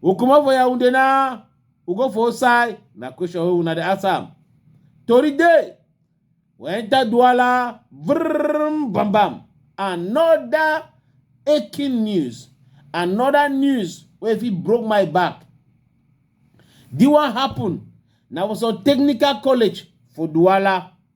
u comot for yaounde na u go for outside na question wey una dey ask am tori dey we enter douala vrrm bam bam another aching news another news wey fit broke my back the one happen na for some technical college for douala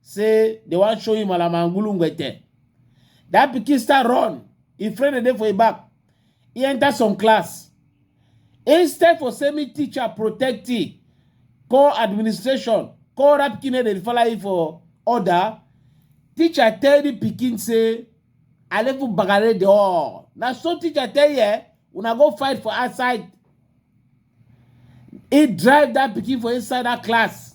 say they wan show him alamangulu ngwete that pikin start run him friend dey dey for him back he enter some class instead for say me teacher protect him call administration call that pikin wey dey follow him for order teacher tell the pikin say alefu bagare the all na so teacher tell ye una go fight for outside he drive that pikin for inside that class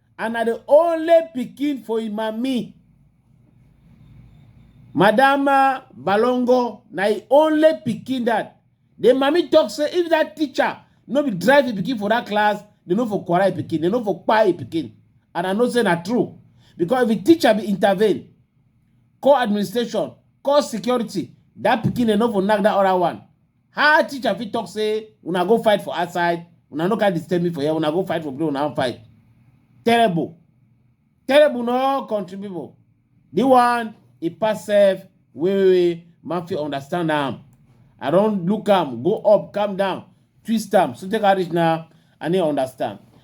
and na the only pikin for im mami madam uh, balongo na im only pikin that the mami talk say if that teacher no be drive im pikin for that class they no for quarrel im pikin they no for kpai im pikin and i know say na true because if the teacher be intervene call administration call security that pikin they no for knack that other one How teacher fit talk say una go fight for outside, una no can disturb me for here, una go fight for play, una wan fight. Terrible. Terrible no country people. The one e pass sef wey wey man fit understand am. I don look am, go up, calm down, twist am, so take am reach now, I no understand.